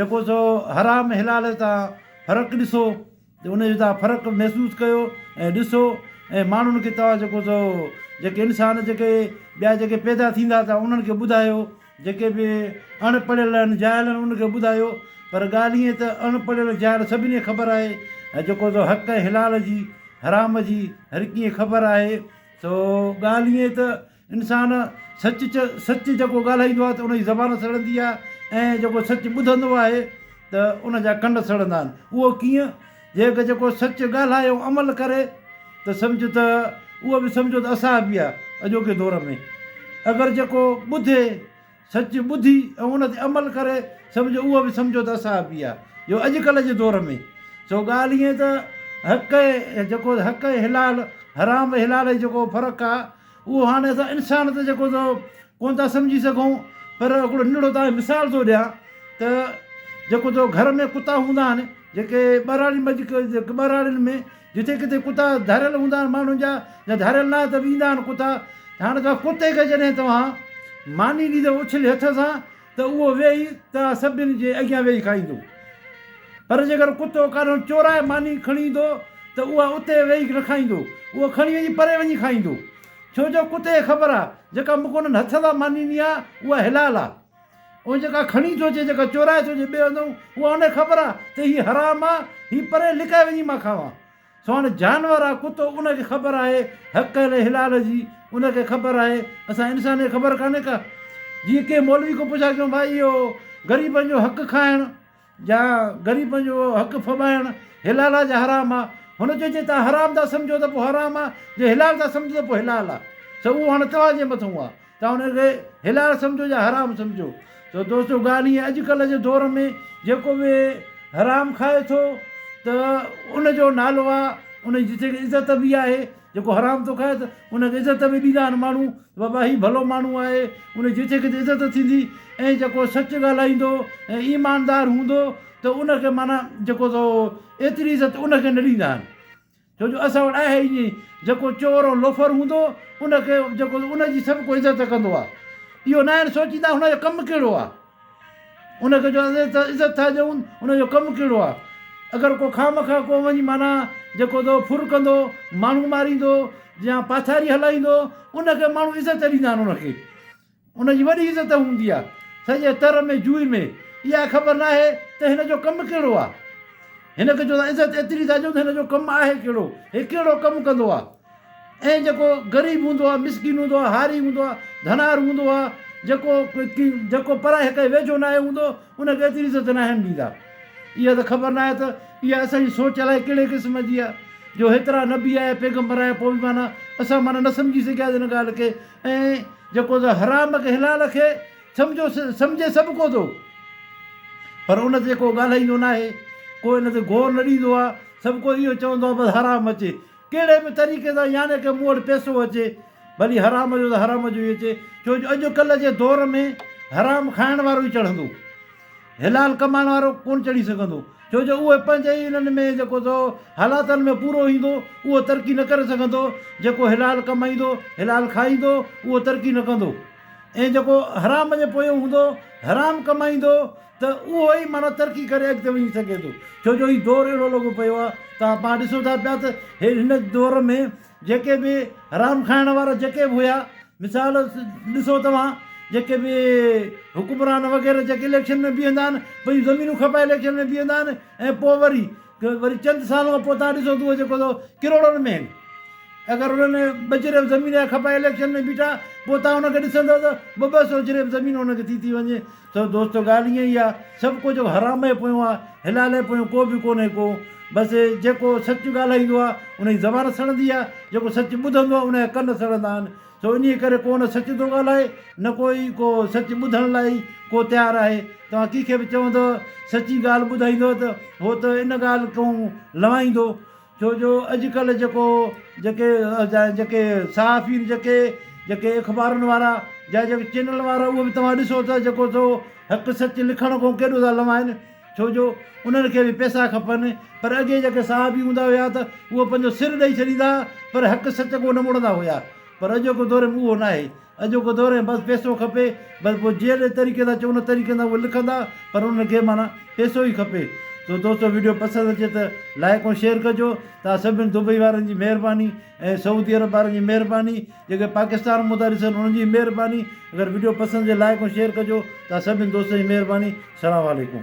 جيڪو سو حرام حلال تان فرق ڏسو ته ان جو تان فرق محسوس ڪيو ۽ ڏسو ۽ ماڻهن کي توهان جيڪو سو جيڪي انسان جيڪي ٻيا جيڪي پيدا ٿيندا تان انهن کي ٻڌايو جيڪي به اڻ پڙهيل آهن جاهل آهن ان کي ٻڌايو پر ڳالهه ائين ته اڻ پڙهيل جاهل سڀني کي خبر آهي ۽ جيڪو سو حق ۽ حلال جي حرام جي هر ڪيئن خبر آهي سو ڳالهه ائين ته انسان سچ چ سچ جيڪو ڳالهائيندو آهي ته ان جي زبان سڙندي آهي ۽ جيڪو سچ ٻڌندو آهي ته ان جا ڪن سڙندا آهن اهو ڪيئن جي ڪو جيڪو سچ ڳالهائي ۽ عمل ڪري ته سمجهه ته اهو به سمجهو ته اصحابي آهي اڄوڪي دور ۾ اگر جيڪو ٻڌي سچ ٻڌي ۽ ان تي عمل ڪري سمجهو اهو به سمجهو ته اصحابي آهي جو اڄڪلهه جي دور ۾ سو ڳالهه ائين ته حق ۽ جيڪو حق ۽ حلال حرام ۽ حلال جي جيڪو فرق آهي اهو هاڻي اسان انسان ته جيڪو سو ڪونه ٿا سمجهي سگهون پر هڪڙو ننڍڙو تانکي مثال ٿو ڏيان ته جيڪو تو گهر ۾ ڪتا هوندا آهن جيڪي ٻهراڙي ٻهراڙين ۾ جتي ڪٿي ڪتا ڌاريل هوندا آهن ماڻهن جا يا ڌاريل نه ته به ايندا آهن ڪتا ته هاڻي توهان ڪتي کي جڏهن توهان ماني ڏيندو اڇلي هٿ سان ته اهو ويهي توهان سڀني جي اڳيان ويهي کائيندو پر جيڪر ڪتو ڪاڏهن چورائي ماني کڻي ايندو ته اها اتي ويهي نه کائيندو اهو کڻي وڃي پري وڃي کائيندو ڇو جو ڪتي کي خبر آهي جيڪا مون کي انهن هٿ سان ماني ڏني آهي اها حلال آهي. اهو جيڪا کڻي ٿو اچي، جيڪا چورائي ٿو اچي ٻئي هنڌ، اها ان کي خبر آ ته هي حرام آ، هي پري لڪائي وڃي مان کاوان. سو هاڻي جانور آ ڪتو، ان کي خبر آهي حق ۽ حلال جي، ان کي خبر آهي، اسان انسانن کي خبر ڪانهي ڪا؟ جيئن ڪنهن مولوي کان پڇا ڪيون ڀائي اهو غريبن جو حق کائڻ، جا غريبن جو حق ڦٻائڻ حلالا جا حرام آ هن چيو جي توهان حرام ٿا سمجهو ته پوء حرام آ جي حلال ٿا سمجهو ته پوء حلال آ سو اهو هاڻي توهان جي مٿون آ توهان ان کي حلال سمجهو يا حرام سمجهو سو دوستو ڳالهه هيء اڄ ڪلهه جي دور ۾ جيڪو به حرام کائي ٿو ته ان جو نالو آ ان جي جتي عزت به آهي جيڪو حرام ٿو کائي ته ان کي عزت به ڏيندا آهن ماڻهو ته بابا هي ڀلو ماڻهو آهي ان جي جيڪي تي عزت ٿيندي ۽ جيڪو سچ ڳالهائيندو ۽ ايماندار هوندو ته ان کي معنيٰ جيڪو سو ايتري عزت ان کي نه ڏيندا آهن ڇو جو اسان وٽ آهي ائين جيڪو چور ۽ لوفر هوندو ان کي جيڪو ان جي سڀ ڪو عزت ڪندو آهي اهو ناهن سوچيندا هن جو ڪم ڪهڙو آهي ان کي جو عزت ٿا ڏيون ان جو ڪم ڪهڙو آهي اگر ڪو خواهه مخواهه ڪو وڃي معنيٰ جيڪو تو ڦر ڪندو ماڻهو ماريندو يا پاٿاري هلائيندو ان کي ماڻهو عزت ڏيندا آهن ان کي ان جي وڏي عزت هوندي آهي سڄي تر ۾ جوئي ۾ اها خبر نه آهي ته هن جو ڪم ڪهڙو آهي هن کي جو عزت ايتري ٿا ڏيون ته هن جو ڪم آهي ڪهڙو هي ڪهڙو ڪم ڪندو آهي ۽ جيڪو غريب هوندو آهي، مسڪين هوندو آهي، هاري هوندو آهي، ڌنار هوندو آهي، جيڪو جيڪو پرائهه کان ويجهو ناهي هوندو، ان کي ايتري عزت ناهن ڏيندا. اها ته خبر ناهي ته اها اسان جي سوچ الائي ڪهڙي قسم جي آهي، جو هيترا نبي آيا، پيغمبر آيا، پوء به معنيٰ اسان معنيٰ نه سمجهي سگهياسين ان ڳالهه کي ۽ جيڪو ته حرام کي حلال کي سمجهو سمجهي سڀ ڪو ٿو، پر ان تي جيڪو ڳالهائيندو ناهي، ڪو ان تي غور نه ڏيندو آهي، سڀ ڪو اهو چوندو آهي بس حرام اچي. ڪهڙي به طريقي سان يعني ڪه مون وٽ پيسو اچي ڀلي حرام جو ته حرام جو ئي اچي ڇو جو اڄ ڪلهه جي دور ۾ حرام کائڻ وارو ئي چڙهندو حلال ڪمائڻ وارو ڪونه چڙهي سگهندو ڇو جو اهو پنهنجي ئي انهن ۾ جيڪو سو حالاتن ۾ پورو ايندو اهو ترقي نه ڪري سگهندو جيڪو حلال ڪمائيندو حلال کائيندو اهو ترقي نه ڪندو ۽ جيڪو حرام جي پويو هوندو حرام ڪمائيندو ته اهو ئي معنيٰ ترقي ڪري اڳتي وڃي سگهي ٿو ڇو جو هي دور اهڙو لڳو پيو آهي ته پاڻ ڏسون ٿا پيا ته هن دور ۾ جيڪي به حرام کائڻ وارا جيڪي به هيا مثال ڏسو توهان جيڪي به حڪمران وغيره جيڪي اليڪشن ۾ بيهندا آهن پنهنجون زمينون کپائي اليڪشن ۾ بيهندا آهن ۽ پوء وري جو وري چند سال کان پوء تهان ڏسو ٿو جيڪو سو ڪروڙن ۾ آهن اگر انهن ٻه چريب زمين جا کپا اليڪشن ۾ بيٺا پوء تهان ان کي ڏسندو ته ٻه ٻه سو چريب زمين ان کي ٿي ٿي وڃي سو دوستو ڳالهه ائين ئي آهي سڀ ڪو جيڪو حرام جي پويون آهي حلال جي پويون ڪو به ڪونهي ڪو بس جيڪو سچ ڳالهائيندو آهي ان جي زبان سڙندي آهي جيڪو سچ ٻڌندو آهي ان جا ڪن سڙندا آهن سو انهيء ڪري ڪو نه سچ ٿو ڳالهائي، نه ڪو ئي ڪو سچ ٻڌڻ لاء ئي ڪو تيار آهي. توهان ڪنهن کي به چوندؤ، سچي ڳالهه ٻڌائيندؤ ته هو ته ان ڳالهه کان لنوائيندو. ڇو جو اڄڪلهه جيڪو جيڪي جيڪي صحافين جيڪي جيڪي اخبارن وارا جا جيڪي چينلن وارا اهي به توهان ڏسو ته جيڪو سو حق سچ لکڻ کان ڪيڏو ٿا لنوائين. ڇو جو انهن کي به پئسا کپن. پر اڳي جيڪي صحابي هوندا هيا ته اهي پنهنجو سر ڏئي ڇڏيندا ها پر حق سچ ڪو نه موڙندا هيا. پر اڄوڪو دور ۾ اهو ناهي. اڄوڪو دور ۾ بس پئسو کپي. بس پوء جهڙي طريقي سان چئون ان طريقي سان اهي لکندا پر انهن کي معنيٰ پئسو ئي کپي. سو دوستو وڊيو پسند اچي ته لائيڪ ۽ شيئر ڪجو. توهان سڀني دبئي وارن جي مهرباني ۽ سعودي عرب وارن جي مهرباني. جيڪي پاڪستان مدار ڏسن انهن جي مهرباني اگر وڊيو پسند جي لائڪ ۽ شيئر ڪجو تها سڀين دوستن جي مهرباني سلام عليڪم.